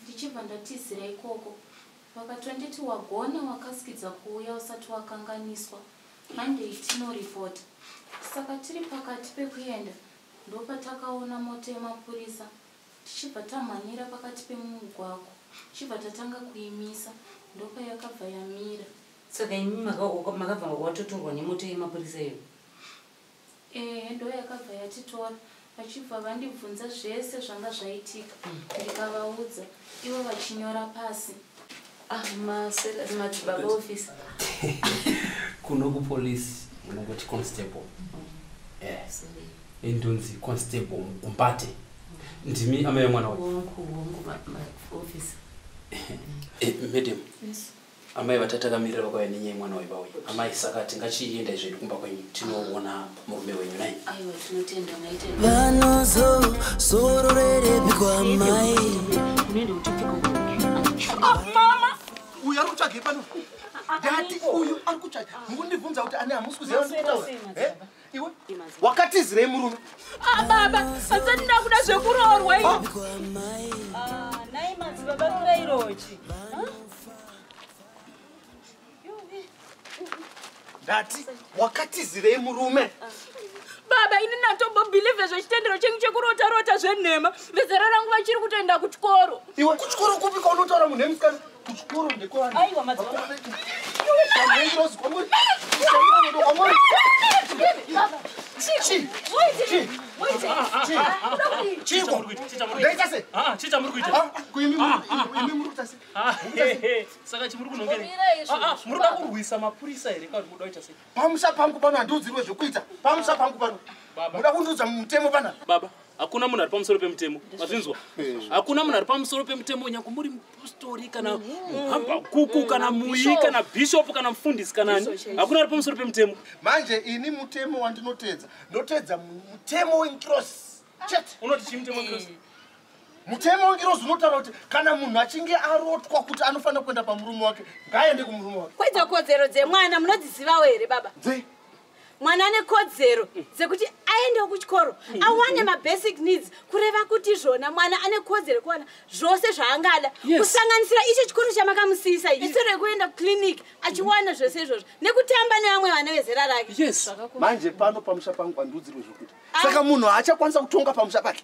ndichibva ndatizira ikoko vakatonditi wagona wakasikidza kuuya usati wakanganiswa monday tinoripota saka tiri pakati pekuenda ndopatakaona moto yemapurisa tichibva tamhanyira pakati pemumugwako tichibva tatanga kuimisa ndopayakabva yamira saka imi makabva watotorwa nemota yemapurisa iyo ehe eh, ndo yakabva yatitora vachibva vandibvunza zvese zvanga zvaitika hmm. ndikavaudza ivo vachinyora pasi ah, madzibaba office kuno kupolice unongoti constable endonzi eh, constable mukumbate ndimi amai mwana wacho eh, madam amai vatati akamirira vakauya nenyaya mwana waiva uyu amai saka tingachiendai zvedu kumba kwenyu tinoona murume wenyu nai vanozozororerebikwa mai ah, mama uyu ari kutsvagei pano dati uyu ari kutsvaga mukundibvunza kuti ane hamusi kuziva ndikutaura iwe wakatizirei murume ah, baba asati ndakuda zvekuroorwa ah. ah, nai madzibaba kirairochi ndati wakatizirei murume baba ini natombobhilivhe zvechitendero chenyu chekurota rota zvenhema vezera rangu vachiri kutoenda kuchikoro iwe kuchikoro kupi kwaunotaura munhu emusikana kuchikoro ndekwani aiwa madzikoro saka chimuri kunongemuruda kurwisa mapurisa here kauri muda kuita sei pamusha pangu pano handiudzirwe zvekuita pamusha pangu pano muda kundiudza mutemo pana baba hakuna munhu ari pamusoro pemutemo mazvinzwa hakuna munhu ari pamusoro pemutemo nyange muri mupostori kana muhambakuku kana muyi kana bhishopu kana mufundisi kanani hakuna ari pamusoro pemutemo manje ini mutemo wandinotedza ndotedza mutemo wenkirosi chete unoti chii mutemo wenkirosi eh. mutemo wengirozi unotaura kuti kana munhu achinge arotwa kuti anofanira kuenda pamurume wake ngaaende kumurume wake kwaidzo kodzero dzemwana munodzizivawo here baba mwana ane kodzero dzekuti aendewo kuchikoro awane mabasic needs kureva kuti zvona mwana ane kodzero kuwana zvose zvaangada kusanganisira icho chikoro chamakamusiyisa iso rekuenda kuclinic achiwana zvese izvozvo nekutamba nevamwe vana vezera rake yes manje pano pamusha pangu andiudzirwe zvokuti ah. saka munhu haachakwanisa kutonga pamusha pake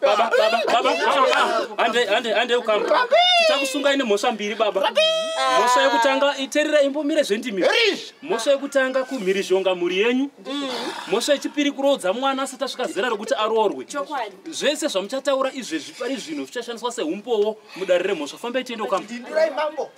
baba baba baba hande hande hande ukamba tichakusungai nemhosva mbiri baba mhosva yekutanga iterera imbomire zvendimi mhosva yekutanga kumhirizhonga mhuri yenyu mhosva yechipiri kuroodza mwana asati asvika zera rekuti aroorwe zvese zvamuchataura izvezvi pari zvino zvichashandiswa seumbowo mudare remhosva fambai tiende ukamba